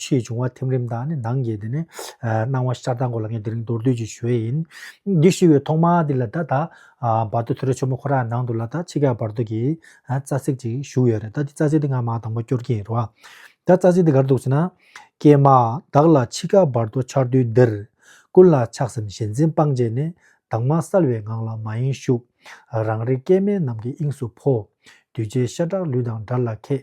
ཆུའི་འབྱུང་བ་ཐིམ་རིམ་དང་ནི་ནང་གི་དེ་ནི་སྣང་བ་ཤར་དང་གོ་ལ་ངན་དེ་རིང་མདོར་བསྡུས་ཀྱི་ཞོལ་ཡིན། འདི་ཞུ་བའི་ཐོག་མ་དེ་ལ་ད་ད་བར་དོ་ཐུ་ར་ཆོ་མོ་ཁོ་ར་ནང་དུ་ལ་ད་ཕྱི་ག་བར་དོ་གི་རྩ་ཚིག་ཅིག་ཞུ་ཡོད་རེད་ད་འདི་རྩ་ཚིག་དེ་ང་མ་དང་པོ་སྐྱོར་གྱི་རེད་བ། ད་རྩ་ཚིག་དེ་ག་རེ་འདུག་ཟེར་ན། ཀྱེ་མ་བདག་ལ་ཕྱི་ག་བར་དོ་འཆར་དུས་འདིར། ཀུན་ལ་ཆགས་སེམས་ཞེན་འཛིན་སྤངས་བྱས་ནས། དྭངས་མ་གསལ་བའི་ངང་ལ་མ་ཡེངས་བཞུགས། རང་རིག་སྐལ་དམན་རྣམས་ཀྱི་དབྱིངས་སུ་འཕོ། གདུལ་བྱའི་ཤ་ཁྲག་ལུས་དང་དགྲ་ལ་མཁས།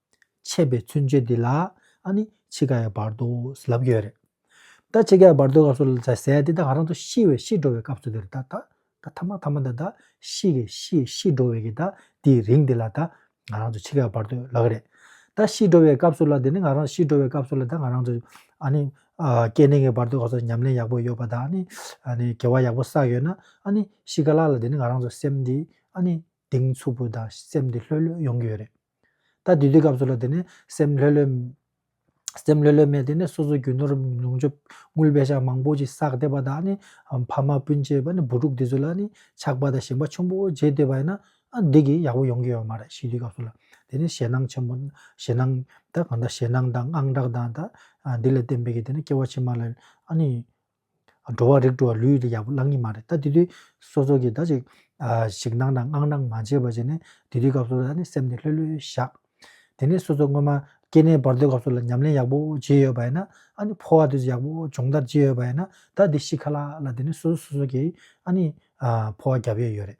ཆད་པའི་ཚུལ་འཆོས་འདི་ལ་ནི་འཆི་ཁ་ཡང་བར་དོ་ཟླ་བ་ཡོད་རེད། ད་འཆི་ཁ་ཡང་བར་དོའི་སྐབས་སུ་ཟད་ཟད་དེ་ད་ང་རང་ཚོ་ཤི་བའི་ཤི་འགྲོ་བའི་སྐབས་སུ་དེར་ད་ད་ད་ཐ་མ་ཐ་མ་ད་ད་ཤི་གི་ཤི་ཤི་འགྲོ་བའི་གི་ད་དེའི་རིང་དེ་ལ་ད་ང་རང་ཚོ་འཆི་ཁ་ཡང་བར་དོ་ལགས་རེད། ད་ཤི་འགྲོ་བའི་སྐབས་སུ་ལ་དེ་ནི་ང་རང་ཤི་འགྲོ་བའི་སྐབས་སུ་ལ་ད་ང་རང་ཚོ་ཨ་ནི་སྐྱེ་གནས་ཀྱི་བར་དོའི་སྐབས་སུ་ཉམས་ལེན་ཡག་པོ་ཡོད་པ་ད་ནི་ཨ་ནི་དགེ་བ་ཡག་པོ་བསགས་ཡོད་ན་ཨ་ནི་ཤི་ག་ལ་ལ་དེ་ནི་ང་རང་ཚོ་སེམས་འདི་ཨ་ནི་གདེང་ཚུགས་པོ་ད་སེམས་འདི་ལྷོད་ལྷོད་ཡོང་གི་ཡོད་རེད། ད་དུས་དེའི་སྐབས་སུ་ལ་དེ་ནས་སེམས་ལྷོད་ལྷོད། སེམས་ལྷོད་ལྷོད་མས་དེ་ནས་སོ་སོའི་རྒྱུ་ནོར་ནུང་ཆོས་དངུལ་བད་ཤག་མང་པོ་ཅིག་བསགས་བསྡད་པ་དག་ནི་ཕ་མ་སྤུན་མཆེད་བུ་ཕྲུག་འདི་ཚོ་ལ་ནི་ཆགས་པ་དང་ཞེན་པ་ཆུང་པོ་བརྗེད་སྡོད་པ་ཡིན་ན་འདི་གི་ཡག་པོ་ཡོང་གི་ཡོད་མ་རེད་ཞི་དུས་སྐབས་སུ་ལ་དེ་ནས་ཞེད་སྣང་ཆེན་པོ་ཞེད་སྣང་ད་གང་འདྲ་ཞེད་སྣང་དང་དངངས་སྐྲག་དང་ད་འདི་ལ་བརྟེན་པའི་གི་དེ་ནས་སྐྱེ་བ་ཕྱི་མ་ལ་ཨ་ནི་འགྲོ་བ་རིགས་དྲུག་ལ་ལུས་ཡོད་ཀྱི་ཡག་པོ་བླང་གི་མ་རེད་ད་དེ་དུས་སོ་སོ་གིས་ད་ཅིག་ཞིག་གནང་དང་མངགས་གནང་མ་བྱས་པ་བྱས་ནས་དེ་དུས་སྐབས་སོ་སོ་ནས་སེམས་ནས་ལྷོད་ལྷོད་བཞག་དེ་ནས་སོ་སོ་སྔོན་མ་སྐྱེ་གནས་བར་དོའི་སྐབས་སོ་ལ་ཉམས་ལེན་ཡག་པོ་བྱས་ཡོད་པ་ཡིན་ན་ཨ་ནི་འཕོ་བ་དུས་སུ་ཡག་པོ་སྦྱོང་བརྡར་བྱས་ཡོད་པ་ཡིན་ན་ད་དེ་ཤི་ཁ་ལ་ལ་དེ་ནས་སོ་སོ་སོ་སོ་གིས་ཨ་ནི་འཕོ་བ་བརྒྱབ་ཡོད་ཡོད་རེད་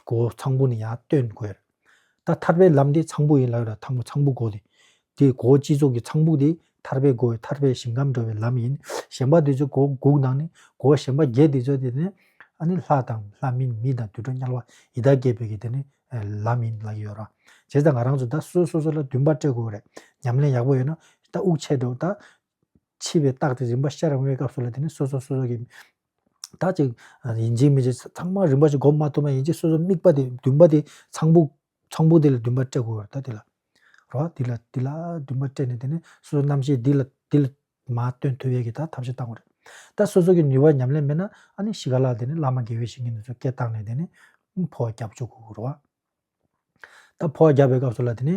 སྒོ་ཚངས་པོ་ནི་ཡང་སྟོན་དགོས། ད་ཐར་པའི་ལམ་དེ་ཚངས་པོ་ཡིན་ལགས་ལ་ཐང་པོ་ཚངས་པོ་སྒོ་དེ། དེ་སྒོ་སྤྱི་གཙུག་གི་ཚངས་བུག་དེ་ཐར་པའི་སྒོའི་ཐར་པའི་ཞིང་ཁམས་འགྲོ་བའི་ལམ་ཡིན། གཞན་པ་དེ་ཚོའི་སྒོ་དགུག་ནང་ནི་སྒོ་གཞན་པ་བརྒྱད་དེ་ཚོ་དེ་ནི། ཨ་ནི་ལྷ་དང་ལྷ་མིན་མི་དང་དུད་འགྲོ་དམྱལ་བ་ཡི་དྭགས་བརྒྱད་པོའི་གི་དེ་ནི་ལམ་ཡིན་ལགས་ཀྱི་ཡོད་རོ། བྱས་ཙང་ང་རང་ཚོ་ད་གསོལ་སོ་སོ་ལ་འདུན་པ་སྤྲད་དགོས་རེད་ཉམས་ལེན་ཡག་པོ་ཡོད་ན་ད་དབུགས་ཆད་འགྲོ་ད་འཆི་བའི་རྟགས་དེ་རིམ་པ་ཤར་འོང་བའི་སྐབས་སུ་ལ་དེ་ནི་སོ་སོ་སོ་སོ་གི། དག་ཅིག། ཡིན་གཅིག་མིན་གཅིག་ཚང་མ་རིམ་པ་ཅིག་བསྒོམ་མ་ཐུབ་ན་ཡིན་གཅིག་སོ་སོ་དམིགས་པ་དེ་བདུན་པ་དེ་ཚངས་བུག། ཚངས་བུག་དེ་ལ་བདུན་པ་སྤྲད་དགོས་པར་ཐལ། དེ་ལ། རོ། དེ་ལ་དེ་ལ་བདུན་པ་སྤྲད་ནས་དེ་ནི་སོ་སོ་རྣམ་ཤེས་འདི་ལ་འདི་ལ། མ་བཏོན་ཐོད་རྒལ་གྱི་ད་ཐབས་ཤིག་བཏང་བ་རེད། ད་སོ་སོ་གི་ནུས་པ་ཉམས་ལེན་མེད་ན་ཨ་ནི་ཤི་ག་ལ་དེ་ནི་བླ་མ་དགེ་བའི་བཤེས་གཉེན་དེ་ཚོ་སྐད་བཏང་ནས་དེ་ནི། ཕོ་བ་རྒྱབ་བཅུག་གོ་རོ། ད་ཕོ་བ་རྒྱབ་པའི་སྐབས་སུ་ལ་དེ་ནི།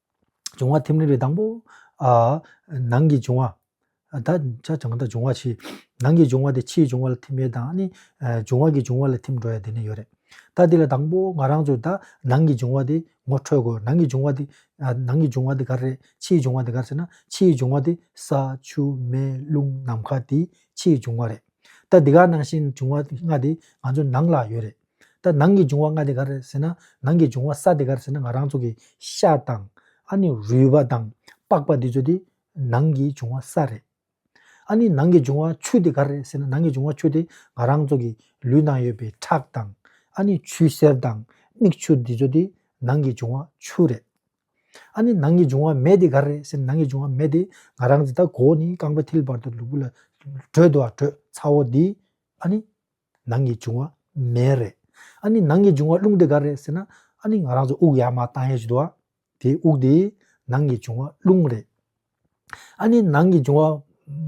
འབྱུང་བ་ཐིམ་རིམ་པའི་དང་པོ། ནང་གི་འབྱུང་བ། ད་ཆ་བྱང་དང་འབྱུང་བ་ཕྱི། ནང་གི་འབྱུང་བ་དེ་ཕྱིའི་འབྱུང་བ་ལ་ཐིམ་པའི་དང་ནི། འབྱུང་བ་གི་འབྱུང་བ་ལ་ཐིམ་འགྲོ་ཡ་དེ་ནི་ཡོད་རེད། ད་འདི་ལ་དང་པོ་ང་རང་ཚོས་ད་ནང་གི་འབྱུང་བ་དེ་ངོ་འཕྲོད་དགོས་ནང་གི་འབྱུང་བ་དེ། ནང་གི་འབྱུང་བ་དེ་ག་རེ་རེད་ཕྱིའི་འབྱུང་བ་དེ་ག་རེ་ཟེར་ན་ཕྱིའི་འབྱུང་བ་དེ་ས་ཆུ་མེ་རླུང་ནམ་མཁའ་དེ་ཕྱིའི་འབྱུང་བ་རེད། ད་འདི་ག་ནང་བཞིན་འབྱུང་བ་ལྔ་དེ་ང་ཚོའི་ནང་ལ་ཡོད་རེད། ད་ནང་གི་འབྱུང་བ་ལྔ་དེ་ག་རེད་ཟེར་ན་ནང་གི་འབྱུང་བ་ས་དེ་ག་རེད་ཟེར་ན་ང་རང་ཚོ་གི་ཤ་དང། ཨ་ནི་རུས་པ་དང་པགས་པ་འདི་ཚོ་དེ་ནང་གི་འབྱུང་བ་ས་རེད། ཨ་ནི་ནང་གི་འབྱུང་བ་ཆུ་དེ་ག་རེད་ཟེར་ན་ནང་གི་འབྱུང་བ་ཆུ་དེ་ང་རང་ཚོ་གི་ལུས་ནང་ཡོད་པའི་ཁྲག་དང། ཨ་ནི་ཆུ་སེར་དང་མིག་ཆུ་འདི་ཚོ་དེ་ནང་གི་འབྱུང་བ་ཆུ་རེད། ཨ་ནི་ནང་གི་འབྱུང་བ་མེ་དེ་ག་རེད་ཟེར་ན་ནང་གི་འབྱུང་བ་མེ་དེ་ང་རང་ཚོ་ད་གོ་ནི་རྐང་པ་མཐིལ་བར་དུ་ལུས་པོ་ལ་བགྲོད་དུ་བ་བགྲོད་ཚ་བོ་འདི། ཨ་ནི། ནང་གི་འབྱུང་བ་མེ་རེད། ཨཱ་ནི་ནང་གི་འབྱུང་བ་རླུང་དེ་ག་རེད་ཟེར་ན་ཨཱ་ནི་ང་རང་ཚོ་དབུགས་ཡར་མར་བཏང་ཡས་བྱེད་དོ། དེ་དབུགས་དེ་ནང་གི་འབྱུང་བ་རླུང་རེད། ཨཱ་ནི་ནང་གི་འབྱུང་བ་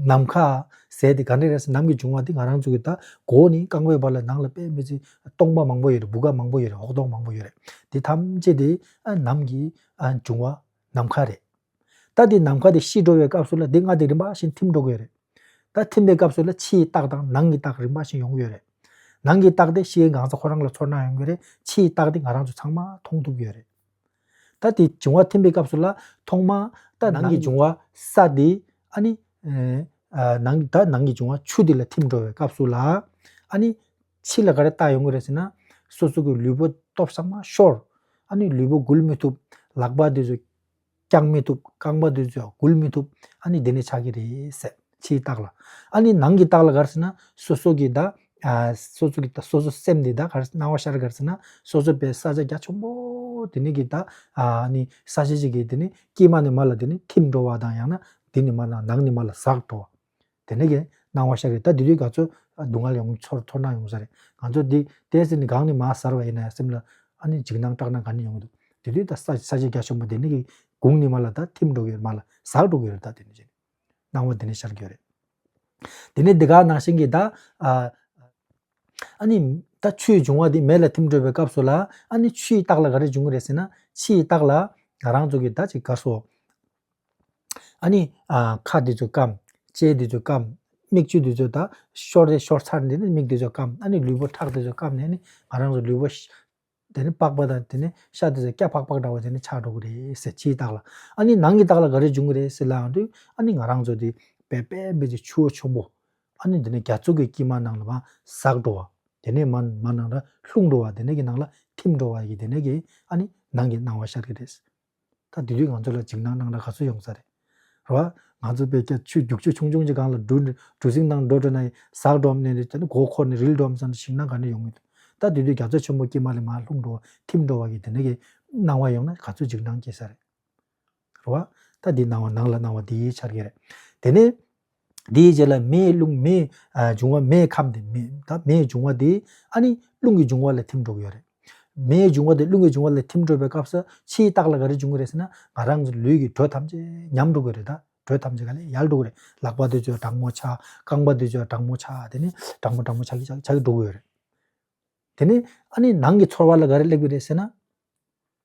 ནམ་མཁའ་ཟས་དེ་ག་འདྲ་རེད་ཟེར་ནམ་གི་འབྱུང་བ་དེ་ང་རང་ཚོ་གི་ད་གོ་ནི་རྐང་པའི་བར་ལ་ནང་ལ་པད་མེ་ཚི་སྟོང་པ་མང་པོ་ཡོད་རེད་སྦུ་ག་མང་པོ་ཡོད་རེད་ཧོག་སྟོང་མང་པོ་ཡོད་རེད་དེ་ཐམས་ཅད་དེ་ནམ་གི་འབྱུང་བ་ནམ་མཁའ་རེད། ད་དེ་ནམ་མཁའ་དེ་ཤི་འགྲོ་བའི་སྐབས་སུ་ལ་དེ་སྔར་དེ་རིམ་པ་བཞིན་ཐིམ་འགྲོ་གི་ཡོད་རེད། ད་ཐིམ་པའི་སྐབས་སུ་ལ་ཕྱིའི་རྟགས་དང་ནང་གི་རྟགས་རིམ་པ་བཞིན་ཡོང་གི་ཡོད་རེད། ནང་གི་རྟགས་དེ་ཤིའི་འགངས་ས་ཁོ་རང་ལ་ཚོར་སྣང་ཡོང་གི་རེད་ཕྱིའི་རྟགས་དེ་ང་རང་ཚོ་ཚང་མ་མཐོང་ཐུབ་ཀྱི་ཡོད་རེད། ད་དེ་འབྱུང་བ་ཐིམ་པའི་སྐབས་སུ་ལ་ཐོག་མ་ད་ནང་གི་འབྱུང་བ་ས་དེ་ཨ་ནི། ནང་ད་ནང་གི་འབྱུང་བ་ཆུ་དེ་ལ་ཐིམ་འགྲོ་བའི་སྐབས་སུ་ལ་ཨ་ནི། ཕྱི་ལ་ག་རེ་རྟགས་ཡོང་གི་རེད་ཟེར་ན། སོ་སོ་གི་ལུས་པོ་སྟོབས་ཟམ་མ་ཤོར། ཨ་ནི་ལུས་པོ་འགུལ་མི་ཐུབ། ལག་པ་དེ་ཚོ། བཀྱག་མི་ཐུབ་རྐང་པ་དེ་ཚོས་སྒུལ་མི་ཐུབ་ཨ་ནི་དེ་ནི་ཆགས་ཀྱི་རེད་ཟེར་ཕྱིའི་རྟགས་ལ། ཨ་ནི་ནང་གི་རྟགས་ལ་གར་ཟེར་ན་སོ་སོ་གི་ད། སོ་སོ་གི་ད་སོ་སོ་སེམས་དེ་ད་གར་སྣང་བ་ཤར་གར་ཟེར་ན་སོ་སོ་པའི་ས་ཆ་རྒྱ་ཆེན་པོ་དེ་ནི་གི་ད། ཨ་ནི་ས་ཆ་ཞིག་གི་དེ་ནི་དཀྱིལ་མ་ནས་མར་ལ་དེ་ནི་ཐིམ་འགྲོ་བ་དང་ཡང་ན་དེ་ནི་མར་ནང་ནི་མར་ལ་ཟགས་འགྲོ་བ། དེ་འདྲ་ཡིན། སྣང་བ་ཤར་བས་ད་དེ་དུས་ག་ཚོད་སྡུག་བསྔལ་ཡོང་ཚོར་ཚོར་སྣང་ཡོང་ས་རེད། ང་ཚོར་འདི་བལྟས་ཟིན་ནས་སྒང་ནས་མ་གཟར་བ་ཡིན་ན་སེམས་ལ་ཨ་ནི་འཇིགས་སྣང་སྐྲག་སྣང་ག་ནས་ཡོང་གི་འདུག་དེ་དུས་ད་ས་ས་ཆེ་རྒྱ་ཆེན་པོ་དེ་ནི་གི་དགུང་ནི་མ་ལ་ད་ཐིམ་འགྲོ་གི་རེད་མ་ལ་ཟགས་འགྲོ་གི་རེད་ད་དེ་ནི་ཅི། སྣང་བ་དེ་ནས་ཤར་གི་ཡོད་རེད། དེ་ནས་འདི་ག་ནང་བཞིན་གྱི་ད་ཨ་ནི་ད་ཆུའི་འབྱུང་བ་དེ་མེ་ལ་ཐིམ་འགྲོ་བའི་སྐབས་སུ་ལ་ཨ་ནི་ཆུའི་རྟགས་ལ་ག་རེ་འབྱུང་གི་རེད་ཟེར་ན་ཕྱིའི་རྟགས་ལ་ང་རང་ཚོ་གི་ད་ཅིག་དགའ་སོ། ཨཱ་ནི། ཁ་འདི་ཚོ་སྐམ། ལྕེ་འདི་ཚོ་སྐམ། མིག་ཆུ་འདི་ཚོ་དག་ཤོར་ཏེ་ཤོར་ཚར་འདི་ནི་མིག་འདི་ཚོ་སྐམ། ཨཱ་ནི་ལུས་པོ་ཁྲག་འདི་ཚོ་སྐམ་ནས་ནི་ང་རང་གི་ལུས་པོ། དེ་ནི་པགས་པ་དང་དེ་ནི་ཤ་འདི་ཚོ་སྐྱ་ཕག་ཕག་འདྲ་བ་དེ་ནི་ཆགས་འགྲོ་གི་རེད་ཟེར་ཕྱིའི་རྟགས་ལ། ཨཱ་ནི་ནང་གི་རྟགས་ལ་ག་རེ་འབྱུང་གི་རེད་ཟེར་ལ་ཡང་དུས་ཨཱ་ནི་ང་རང་ཚོ་དེ་བལ་པའི་སྦས་ཀྱི་ཆུ་བོ་ཆུང་པོ། ཨཱ་ནི་འདི་ནི་རྒྱ་མཚོ་གི་དཀྱིལ་མ་ནང་ལ་མ་ཟགས་འགྲོ་བ། དེ་ནས་མ་མ་ནང་ལ་ལྷུང་འགྲོ་བ་དེ་ནས་ཀྱི་ནང་ལ་ཐིམ་འགྲོ་བ་ཡི་དེ་ནས་ཀྱི་ཨཱ་ནི་ནང་གི་སྣང་བ་ཤར་གི་རེད། ད་དུས་རྒྱུན་ང་ཚོ་ལ་འཇིགས་སྣང་སྣང་ར་ག་ཚོད་ཡོང་ས་རེད་རོ། ང་ཚོ་དཔེ་རྒྱ་ཆུ་རྒྱུག་ཆུ་ཆུང་ཆུང་ཅིག་གང་ལ་འགྲོ་འགྲོ་སིང་དང་འགྲོ་འགྲོ་ན་ཟགས་འགྲོ་འམ་ནས་རེད་ད་ནི་མགོ་འཁོར་ནས་རིལ་འགྲོ་འམ་བསམ་ན་ཞིང་ན་ག་ནས་ཡོང་གི་འདུག་ད་དུས་དུས་རྒྱ་མཚོ་ཆེན་པོ་སྐྱེས་མ་ལས་མ་ལྷུང་འགྲོ་ཐིམ་འགྲོ་བ་གི་དེ་འདྲ་གི་སྣང་བ་ཡོང་ན་ག་ཚོད་འཇིགས་སྣང་སྐྱེ་ས་རེད་རོ། ད་འདི་སྣང་བ་ནང་ལ་སྣང་བ་འདི་ཡིས་འཆར་གི་རེད་དེ་ནས། དེའི་རྗེས་ལ་མེའི་རླུང་མེའི་འབྱུང་བ་མེའི་ཁམས་དེ་མེའི་འབྱུང་བ་དེ་ཨ་ནི་རླུང་གི་འབྱུང་བ་ལ་ཐིམ་འགྲོ་གི་ཡོད་རེད། མེའི་འབྱུང་བ་དེ་རླུང་གི་འབྱུང་བ་ལ་ཐིམ་འགྲོ་བའི་སྐབས་སུ་ཕྱིའི་རྟགས་ལ་ག་རེ་འབྱུང་གི་རེད་ཟེར་ན་ང་རང་གི་ལུས་ཀྱི་དྲོད་ཐམས་ཅད་ཉམས་འགྲོ་གི་རེད་ད། དྲོད་ཐམས་ཅད་ག་ལེ་ཡལ་འགྲོ་གི་རེད། ལག་པ་དེ་ཚོས་སྦྲང་མོ་ཆགས་རྐང་པ་དེ་ཚོས་སྦྲང་མོ་ཆགས་དེ་ནི་སྦྲང་མོ་སྦྲང་མོ་ཆགས་ཆགས་ཆགས་ཀྱི་འགྲོ་གི་ཡོད་རེད། དེ་ནི་ཨ་ནི་ནང་གི་ཚོར་བ་ལ་ག་རེ་སླེབས་ཀྱི་རེད་ཟེར་ན།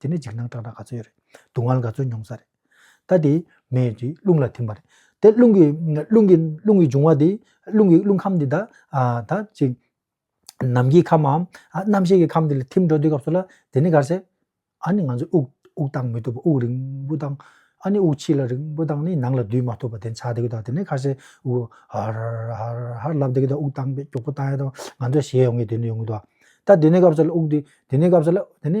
དེ་ནི་འཇིགས་སྣང་སྐྲག་སྒྲ་ག་ཚོད་ཡོད་རེད། སྡུག་བསྔལ་ག་ཚོད་མྱོང་ས་རེད། ད་དེ་མེ་དེ་རླུང་ལ་ཐིམ་པ་རེད། དེ་རླུང་གི་རླུང་གི་རླུང་གི་འབྱུང་བ་དེ་རླུང་གི་རླུང་ཁམས་དེ་དག་ད་ཅིག་ནམ་མཁའི་ཁམས་འམ་རྣམ་ཤེས་ཀྱི་ཁམས་དེ་ལ་ཐིམ་འགྲོ་དུས་སྐབས་སུ་ལ་དེ་ནི་གར་སེ། ཨཱ་ནི་ང་ཚོས་དབུགས་དབུགས་བཏང་མི་ཐུབ་པ་དབུགས་རིང་པོ་བཏང། ཨཱ་ནི་དབུགས་ཕྱི་ལ་རིང་པོ་བཏང་ནས་ནང་ལ་སྡུད་མ་ཐུབ་པ་དེ་འཆའ་དེ་གི་དོག་དེ་ནི་གར་སེ། དབུགས་ཧར་ཧར་ཧར་ལབ་དེ་གི་དོག་དབུགས་བཏང་པས་མགྱོགས་པོ་བཏང་ཡ་དང་ང་ཚོས་ཞེད་ཡོང་གི་དེ་ནི་ཡོང་གི་དོག། ད་དེ་ནི་སྐབས་སུ་ལ་དབུགས་དེ་དེ་ནི་སྐབས་སུ་ལ་དེ་ནི་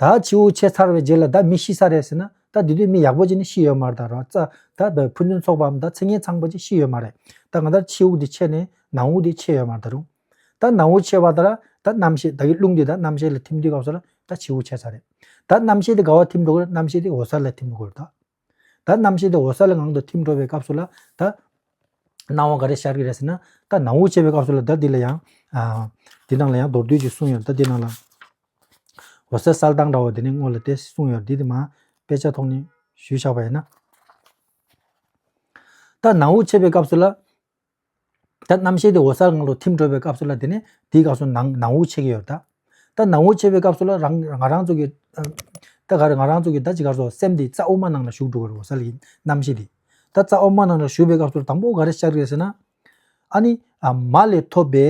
ད་ཁྱེའུ་བོ་ཆེ་ཚར་བའི་རྗེས་ལ་ད་མི་ཤི་ས་རེད་ཟེར་ན་ད་དེ་དུས་མི་ཡག་པོ་ཅིག་ནི་ཤི་ཡོད་མ་རེད་ད་རོག་རྩ་ད་བའི་ཕུ་ནུའི་ཚོགས་པའམ་ད་ཚིག་ངན་ཚང་པ་ཅིག་ཤི་ཡོད་མ་རེད་ད་ང་ད་ཁྱེའུ་དེ་ཆེ་ནས་ནང་འུར་དེ་ཆེ་ཡོད་མ་རེད་ད་རུང་ད་ནང་འུར་ཆེ་བ་ད་ར་ད་རྣམ་ཤེས་ད་གི་རླུང་དེ་ད་རྣམ་ཤེས་ལ་ཐིམ་དུས་སྐབས་སུ་ར་ད་ཁྱེའུ་བོ་ཆེ་ཚར་རེད་ད་རྣམ་ཤེས་དེ་དགའ་བ་ཐིམ་འགྲོ་གི་རེད་རྣམ་ཤེས་དེ་འོ་ཚར་ལ་ཐིམ་འགྲོ་གི་རེད་ད། ད་རྣམ་ཤེས་དེ་འོད་གསལ་ལ་ངང་དུ་ཐིམ་འགྲོ་བའི་སྐབས་སུ་ལ་ད། སྣང་བ་ག་རེ་ཤར་གི་རེད་ཟེར་ན། ད་ནང་དབུགས་ཆད་པའི་སྐབས་སུ་ལ་ད་འདི་ལ་ཡང། འདི་ནང་ལ་ཡང་མདོར་བསྡུས་ཀྱིས་གསུངས་ཡོད་ད་འདི་ནང་ལ། འོད་གསལ་གསལ་དྭངས་འདྲ་བ་དེ་ནི་དངོས་ལ་དེ་གསུངས་ཡོད་འདི་དེ་མ། དཔེ་ཆ་ཐོག་ནས་ཞུས་བཞག་པ་ཡིན་ན། ད་ནང་དབུགས་ཆད་པའི་སྐབས་སུ་ལ། ད་རྣམ་ཤེས་དེ་འོད་གསལ་ངང་དུ་ཐིམ་འགྲོ་བའི་སྐབས་སུ་ལ་དེ་ནས་དེའི་སྐབས་སུ་ནང་ནང་དབུགས་ཆད་ཀྱི་ཡོད་ད། ད་ནང་དབུགས་ཆད་པའི་སྐབས་སུ་ལ་རང་ང་རང་ཚུགས་ཀྱི། ད་ག་རེ་ང་རང་ཚུགས་ཀྱི་ད་ཅི་ག་སོགས་སེམས་དེ་རྩ་དབུ་མ་ནང་ལ་ཞུགས་འགྲོ་བའི་འོད་གསལ་གྱི་རྣམ་ཤེས་དེ། ད་རྩ་དབུ་མ་ནང་ལ་ཞུགས་པའི་སྐབས་སུ་དང་པོ་ག་རེ་ཤར་ཡོད་ཟེར་ན། ཨ་ནི་མ་ལས་ཐོབ་པའི་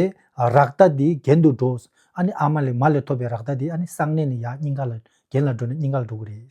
རག་ལྟ་དེ་གྱེན་དུ་འགྲོ། ཨ་ནི་ཨ་མ་ལས་མ་ལས་ཐོབ་པའི་རག་ལྟ་དེ་ཨ་ནི་གསང་གནས་ནས་ཡར་སྙིང་ག་ལ་གྱེན་ལ་འགྲོ་ནས་སྙིང་ག་ལ་འགྲོ་གི་རེད།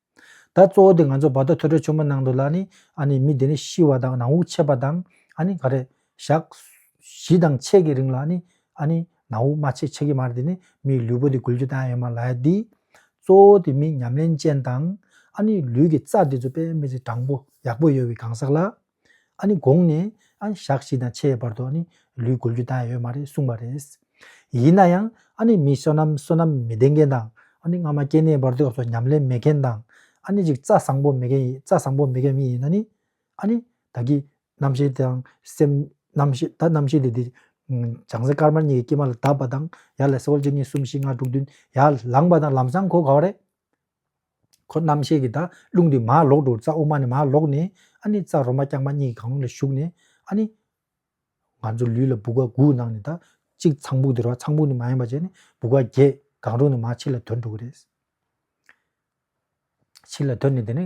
ད་གཙོ་བོ་དེ་ང་ཚོ་བར་དོ་ཐོས་གྲོལ་ཆེན་པོ་གནང་འདུག་ལ་ནི་ཨ་ནི་མི་དེ་ནི་ཤི་བ་དང་ནང་དབུགས་ཆད་པ་དང་ཨ་ནི་ག་རེ། ཞག། བཞི་དང་ཕྱེད་ཀྱི་རིང་ལ་ཨ་ནི། ཨ་ནི། ནང་དབུགས་མ་ཆད་ཆད་ཀྱི་མ་རེད་དེ་ནི་མིའི་ལུས་པོ་དེ་འགུལ་རྒྱུ་ད་ཡང་ཡོད་མ་ལགས་ཏེ། གཙོ་བོ་དེ་མི་ཉམས་ལེན་ཅན་དང། ཨ་ནི་ལུས་ཀྱི་རྩ་དེ་ཚོ་དཔེ་མི་ཚེ་དྲང་པོ་ཡག་པོ་ཡོད་པའི་གང་ཟག་ལ། ཨ་ནི་དགོངས་ནས་ཨ་ནི་ཞག་བཞི་དང་ཕྱེད་བར་དུ་ཨ་ནི་ལུས་བགོ་རྒྱུ་དག་ཡོད་མ་རེད་གསུངས་པ་རེད། ཡིན་ན་ཡང་ཨ་ནི་མི་བསོད་ནམས་བསོད་ནམས་མི་ལྡན་མཁན་དང་ཨ་ནི་སྔ་མ་སྐྱེ་གནས་བར་དུ་སྐྱབས་སུ་ཉམས་ལེན་མེད་མཁན་དང་ཨ་ནི་ཅིག་རྩ་བཟང་པོ་མེད་མཁན་རྩ་བཟང་པོ་མེད་མཁན་མི་ཡིན་ན་ནི་ཨ་ནི་ད་གི་རྣམ་ཤེས་དང་སེམས། རྣམ་ཤེས་ད་རྣམ་ཤེས་དེ་དེ་བྱང་སེམས་དཀར་དམར་གཉིས་ཀྱི་སྐྱེ་མ་ལ་དག་པ་དང་ཡར་ལ་སེ་ཧོལ་གཅིག་གཉིས་གསུམ་བཞི་ལྔ་དྲུག་བདུན་ཡར་ལངས་པ་དང་ལམ་བཟང་གོ་ག་བ་རེད། ཁོ་རྣམ་ཤེས་ཀྱི་དག་རླུང་དུ་མ་ལོག་དྲུག་རྩ་དབུ་མ་ནས་མ་ལོག་ནས་ཨ་ནི་རྩ་རོ་མ་རྐྱང་པ་གཉིས་ཀྱི་གང་རུང་ལ་ཞུགས་ནས་ཨ་ནི། ང་ཚོ་ལུས་ལ་སྦུ་ག་དགུ་གནང་ནས་དག་གཅིག་ཚངས་བུག་དེར་བ་ཚངས་བུག་ནི་མ་ཡིན་པ་བྱས་ནས་སྦུ་ག་བརྒྱད་གང་རུང་ནས་མ་ཕྱི་ལ་དོན་དྲུག་རེད། ཕྱི་ལ་དོན་ནི་དེ་ནི་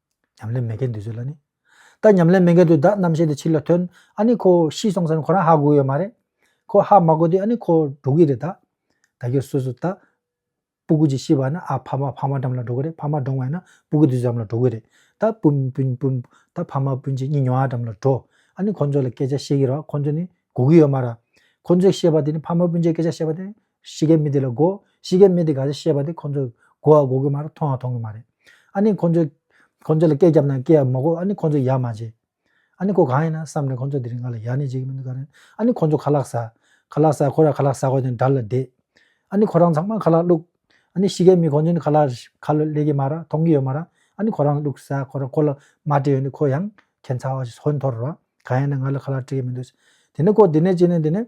ཉམས་ལེན་མེད་མཁན་དུས་ཚོད་ལ་ནི། ད་ཉམས་ལེན་མེད་མཁན་དུ་བདག་རྣམ་ཤེས་དེ་ཕྱིར་ལ་ཐོན་ཨ་ནི་ཁོ་ཤི་སོང་ས་ནི་ཁོ་རང་ཧ་གོ་ཡོད་མ་རེད། ཁོ་ཧ་མ་གོ་དུས་ཨ་ནི་ཁོ་འགྲོ་གི་རེད་ད། ད་ཁྱོད་སོ་སོ་ད། སྤུ་གུ་ཅིག་ཤི་བ་ན་ཨ་ཕ་མ་ཕ་མ་འགྲམ་ལ་འགྲོ་གི་རེད་ཕ་མ་འགྲོང་བས་ན་སྤུ་གུ་དུས་ཚོད་འགྲམ་ལ་འགྲོ་གི་རེད་ད། སྤུན་སྤུན་སྤུན། ད་ཕ་མ་སྤུན་གཅིག་གཉིས་ཉོ་ཨ་འགྲམ་ལ་འགྲོ། ཨ་ནི་ཁོ་ཚོ་ལ་སྐད་ཆ་བཤད་གི་རེད་བ་ཁོ་ཚོ་ནི་གོ་གི་ཡོད་མ་ར། ཁོ་ཚོས་བཤད་པ་དེ་ནི་ཕ་མ་སྤུན་གཅིག་སྐད་ཆ་བཤད་པ་དེ་གཤིས་ཀའི་མི་དེ་ལ་དགོ། གཤིས་ཀའི་མི་དེ་ག་ཚད་ཤེས་པ་དེ་ཁོ་ཚོས་དགོ་བ་དགོ་གི་མ་རེད་མཐོང་བ་མཐོང་གི་མ་རེད། ཨ་ནི་ཁོ་ཚོས། ཁོ་ཚོ་ལ་སྐད་བརྒྱབ་ན་སྐད་ཡག་མ་གོ་ཨ་ནི་ཁོ་ཚོས་ཡག་མ་བྱེད། ཨ་ནི་ཁོ་གང་ཡིན་ན་བསམ་ནས་ཁོ་ཚོས་དེ་རིང་ང་ལ་ཡག་ནི་བྱེད་ཀྱི་མི་འདུག་ག་རེད། ཨ་ནི་ཁོ་ཚོ་ཁ་ལག་ཟ། ཁ་ལག་ཟ་ཁོ་རང་ཁ་ལག་ཟ་གོ་ནས་འདར་ལ་བསྡད། ཨ་ནི་ཁོ་རང་ཚང་མ་ཁ་ལག་བླུགས། ཨ་ནི་གཤིས་ཀའི་མི་ཁོ་ཚོ་ནི་ཁ་ལག་ཁ་ལོ་ལེགས་ཀྱི་མ་ར་མཐོང་གི་ཡོད་མ་ར་ཨ་ནི་ཁོ་རང་བླུགས་ཟ་ཁོ་རང་ཁོ་ལ་མ་སྤྲད་ཡོད་ནི་ཁོ་ཡང་ཁྱད་མཚར་བ་ཞིག་ཧོན་འཐོར་ར་གང་ཡིན་ན་ང་ལ་ཁ་ལག་སྤྲད་ཀྱི་མི་འདུག་ཟེར། དེ་ནས་ཁོ་དེ་ནས་ཅི་ནས་དེ་ནས།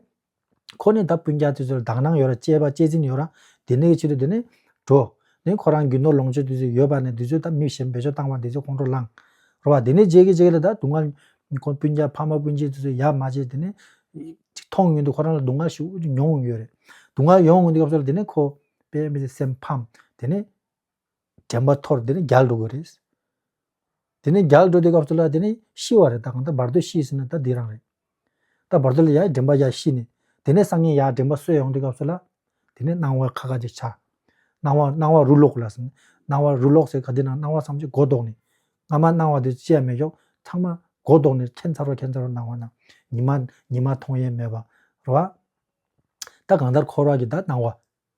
ཁོ་ནི་ད་སྤུན་རྒྱག་དུས་ཚོད་དང་སྣང་ཡོད་ར་གཅེས་པ་གཅེས་འཛིན་ཡོད་ར་དེ་ནས་ཀྱི་ཕྱི་དུ་དེ་ནས། འགྲོ། ནས་ཁོ་རང་རྒྱུ་ནོར་ལོངས་སྤྱོད་དུས་ཚོད་ཡོད་པ་ནས་དུས་ཚོད་ད་མི་གཞན་འབད་ཕྱོགས་བཏང་བ་དེ་ཚོད་ཁོང་ཁྲོ་ལངས། རོ་བ་དེ་ནས་རྗེས་ཀྱི་རྗེས་ཀྱི་ལ་ད་སྡུག་བསྔལ། ཁོ་སྤུན་རྒྱག་ཕ་མ་སྤུན་མཆེད་དུས་ཚོད་ཡག་མ་བྱས་དེ་ནས། ཅིག་མཐོང་ཡུན་དུ་ཁོ་རང་ལ་སྡུག་བསྔལ་ཞིག་མྱོང་ཡོད་རེད། སྡུག་བསྔལ་ཡོང་ཡོང་གི་སྐབས་སུ་ལ་དེ་ནས་ཁོ། པའི་མི་ཚེ་སེམས་ཕམ། དེ་ནས། དྲན་པ་འཐོར་དེ་ནས་རྒྱལ་འགྲོ་དགོས་རེད། དེ་ནས་རྒྱལ་འགྲོ་དེ་སྐབས་སུ་ལ་དེ་ནས་ཤི་བ་རེད་ད་གང་ལྟར་བར་དོ་ཤི་ཟིན་ན་ད་འདི་རང་རེད། ད་བར་དོ་ལ་ཡང་དྲན་པ་ཡང་ཤི་ནས་དེ་ནས་སང་ཉིན་ཡང་དྲན་པ་གསོས་ཡོང་དུས་སྐབས་སུ་ལ་དེ་ནས་སྣང་བ་ཁ་ཁ་ཅིག་ཆགས། སྣང་བ་སྣང་བ་རུ་ལོག་ལ་ཟིན། སྣང་བ་རུ་ལོག་ཟེར་ག་དེ་ན་སྣང་བ་བསམ་གྱི་མགོ་བཟློག་ནས་སྔ་མ་སྣང་བ་དེ་བཅད་མེད་ཞོག་ཚང་མ་མགོ་བཟློག་ནས་ཁྱད་མཚར་བ་ཁྱད་མཚར་བ་སྣང་བ་རྣམས་ཉི་མ་ཉི་མ་མཐོང་ཡས་མེད་པ་རོ། ད་གང་ལྟར་འཁོར་བ་གྱི་ད་སྣང་བ།